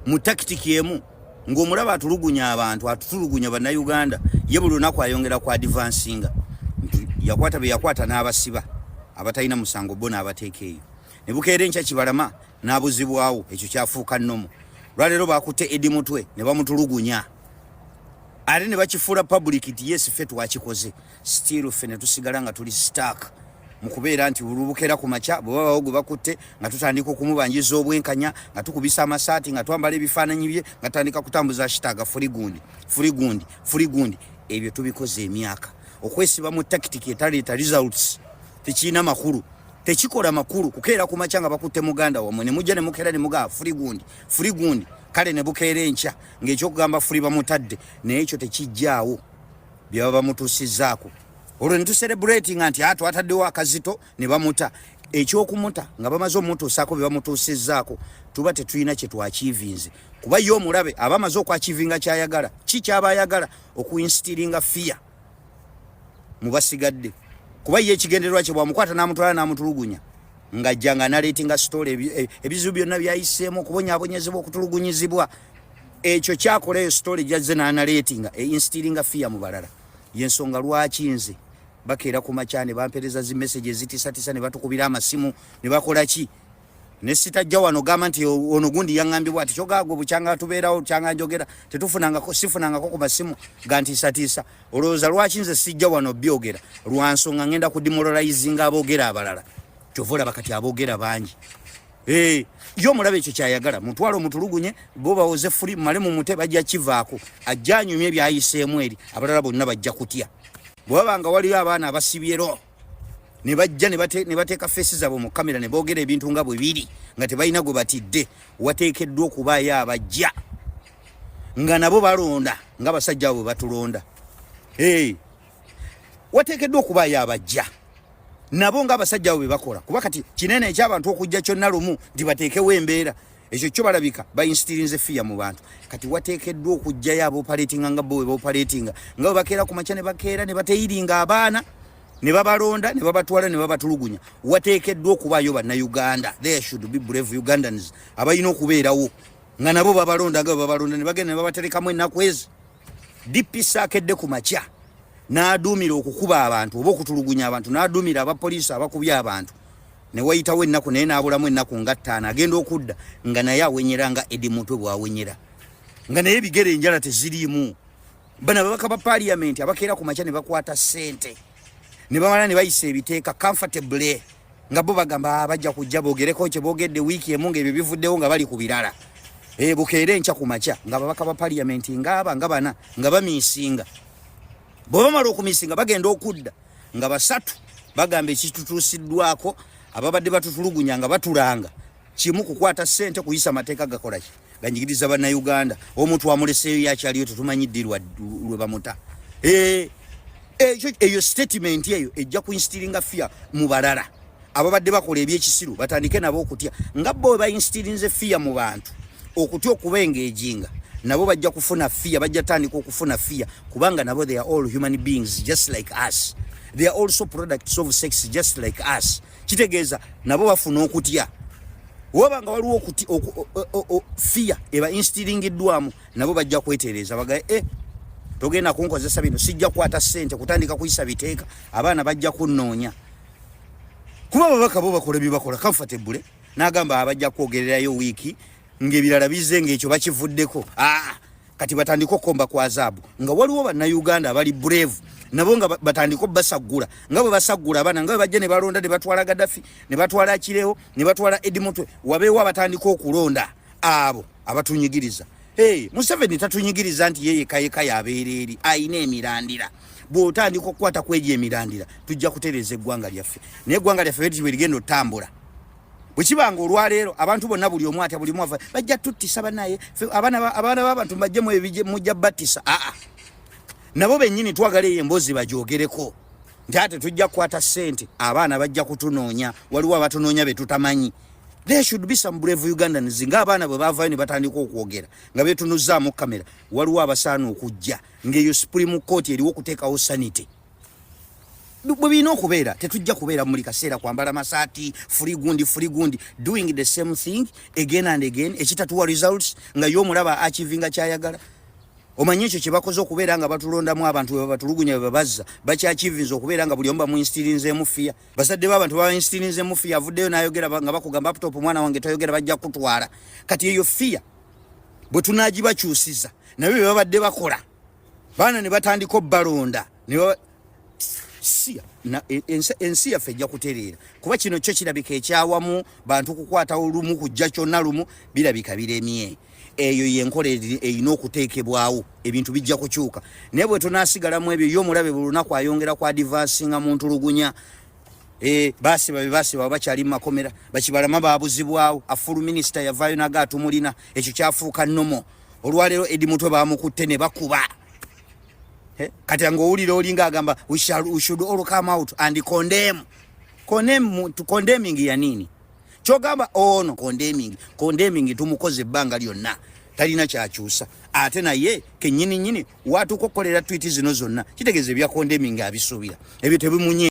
mu takitiki emu ng'omulaba atulugunya abantu atutulugunya bannayuganda ye buli lunaku ayongera ku adivansinga yakwata be yakwata n'abasiba abatalina musango bo n'abateeka eyo ne bukeera enkya kibalama n'abuzibwawo ekyo kyafuuka nnomu lwaleero bakutte edi mutwe ne bamutulugunya ate ne bakifuula pabulikiti yesi fe twakikoze still ffe ne tusigala nga tuli stark mu kubeera nti olubukera ku makya bwe babawo gwe bakutte nga tutandika okumubanjiza obwenkanya nga tukubisa amasaati nga twambala ebifaananyi bye nga tutandika kutambuza shitaaga fuli gundi fuli gundi fuli gundi ebyo tubikoze emyaka okwesiba mu takitiki etaleeta results tekirina makulu tekikola makulu kukeera ku makya nga bakutte muganda wamwe ne mujja ne mukeera ne mugaa fuli gundi fuli gundi kale ne bukeera enkya ng'ekyokugamba fuli bamutadde naye ekyo tekijjaawo byaba bamutusizaako olwo netuserebulatinga nti atu ah, ataddewo akazito ne bamuta ekyokumuta nga bamaze omutuusaako bye bamutuusizaako tuba tetulina kye twakiivinze kuba ye omulabe aba amaze okwakiivinga kyayagala ki kyaba ayagala okuinstiringa fiya mu basigadde kuba ye ekigendererwa kye bwamukwata n'amutwala n'amutulugunya ng'ajja nga naleetinga sitoola e, ebizibu byonna byayiseemu okubonyaabonyezebwa okutulugunyizibwa ekyo kyakola eyo story jazze nanaleetinga einstilinga fiya mu balala yensonga lwaki nze bakeera ku makya ne bampereza zi message ezitisatisa ne batukubira amasimu ne bakola ki ne sitajja wano gamba nti ono gundi yaŋambye bwati kyogaagwe bukyanga tubeerawo kyanga njogera tetufunangako sifunangako ku masimu gantiisatiisa olowooza lwaki nze sijja wano byogera lwansonga ŋenda kudimoralizinga aboogera abalala kyova olaba kati aboogera bangi Hey, yo mulabe ekyo kyayagala mutwalo mutulugunye bo bawoze fuli male mu mute bajja kivaako ajja anyumye byayiseemu eri abalala bonna bajja kutya bwaba nga waliyo abaana abasibyero ne bajja ne bateeka feesi zaabwe mu kamera ne boogera ebintu nga bwe biri nga tebalina gwe batidde wateekeddwa okubaayo abajja nga nabo balonda nga basajja abo bwe batulonda hey, wateekeddwa okubaayo abajja nabo nga abasajja abo bebakola kuba kati kinene ekyabantu okujja kyonna lumu nti bateekewo embeera ekyo kyo balabika bainstirinze fiya mu bantu kati wateekeddwa okujjayo abaopaletinga nga bo webaopaletinga nga webakeera ku makya ne bakeera ne bateyiringa abaana ne babalonda ne babatwala ne babatulugunya wateekeddwa okubaayo bannayuganda there should be brave ugandans abalina okubeerawo nga nabo babalonda nga webabalonda ne bagenda ne babaterekamu ennaku ezi DPC akedde ku makya n'aduumira okukuba abantu oba okutulugunya abantu n'aduumira abapoliisi abakubye abantu ne wayitawo ennaku naye n'abulamu ennaku nga ttaano agenda okudda nga naye awenyera nga edi mutwe bw'awenyera nga naye ebigere enjala teziriimu bano ababaka ba paliyamenti abakeera ku makya ne bakwata ssente ne bamala ne bayisa ebiteeka comfortably nga bo bagamba ah, bajja kujja bogereko kye bogedde wiiki emu ng'ebyo bivuddewo nga bali ku birala e, bukeera enkya ku makya nga babaka ba paliyamenti ngaaba nga bana nga bamiisinga bwe bamala okumiisinga bagenda okudda nga basatu bagamba ekitutuusiddwako ababadde batutulugunya nga batulanga kimu kukwata ssente kuyisa mateeka gakolaki ganyigiriza bannayuganda omuntu amuleseeyo yakyaliyo tetumanyi ddi lwe bamuta eh, ekyo eyo statement eyo ejja kuinstiringa fear mu balala ababadde bakola ebyekisiru batandike nabo okutya nga bo webainstirinze fear mu bantu okutya okuba engejinga nabo bajja kufuna fear bajja tandika okufuna fear kubanga nabo they are all human beings just like us they are also products of sex just like us kitegeeza nabo bafuna okutya waba nga waliwo okuti fiya eba instiringiddwamu nabo bajja kwetereeza bagae e eh, togenda kunkozesa bino sijja kukwata ssente kutandika kuyisa biteeka abaana bajja kunnoonya kuba ababaka bo bakola byebakola comfortable nagamba abajja kwogererayo wiiki ngaebirala bize ngaekyo bakivuddeko aa ah! kati batandika okukomba kwa zaabu nga waliwo bannayuganda abali brave nabo nga batandika obasaggula nga bwe basaggula abaana nga bwe bajja ne balonda ne batwala gadafi ne batwala kirewo ne batwala edimutwe wabeewo abatandika okulonda abo abatunyigiriza hey, museveni tatunyigiriza nti yeyekayeka yabeera eri ayina emirandira bwotandika okukwata kwegyo emirandira tujja kutereeza eggwanga lyaffe naye eggwanga lyaffe betiwe ligenda otambula bwekibanga olwaleero abantu bonna buli omu atya bulimu ava bajja tuttisa banaye abaana babantu bajje mujja battisa aa nabo bennyini twagala eyo emboozi bagyogereko nti ate tujja kukwata ssente abaana bajja kutunoonya waliwo abatunoonya betutamanyi there should be some brave ugandans nga abaana bwe bavayo ne batandika okwogera nga betunuzzaamu kamera waliwo abasaana okujja ngaeyo supreme court eriwo okuteekawo sanity bwe birina okubeera tetujja kubeera muli kaseera kwambala masaati free gundi free gundi doing the same thing again and again ekitatuwa results nga ye omulaba achivinga kyayagala omanyi ekyo kyebakoze okubeera nga batulondamu abantu webabatulugunya bebabazza bakyachivinza okubeera nga buli omu bamuinstirinzemu fiya bazadde baabantu babainstirinzemu fiya avuddeyo nayogera nga bakugamba aptop omwana wange toyogera bajja kutwala kati eyo fiya bwe tunagibakyusiza nabyo bebabadde bakola baana ne batandika obbalonda e, ensi yaffe ejja kutereera kuba kino kyo kirabika ekyawamu bantu kukwata olumu kujja kyonna lumu birabika biremye eyo yenkola erina okuteekebwawo ebintu bijja kukyuka naye bwe tunasigalamu ebyo yo omulabe buli lunaku ayongera ku adivansinga mu ntulugunya e, basiba be basiba bakyali mu makomera bakibalama babuzibwawo afulu minisita yavaayo naga atumulina ekyo kyafuuka nomo olwaleero edi mutwe bamukutte ne bakuba eh, kati nga owulira olinga agamba we should all come out and condemn condemn to condemning ya nini kyogamba ono oh, condemning condemning tumukoze ebbanga lyonna talina kyakyusa ate naye kenyini nyini watukokolera twiti zino zonna kitegeeza ebya condemning abisuubira ebyo tebimunye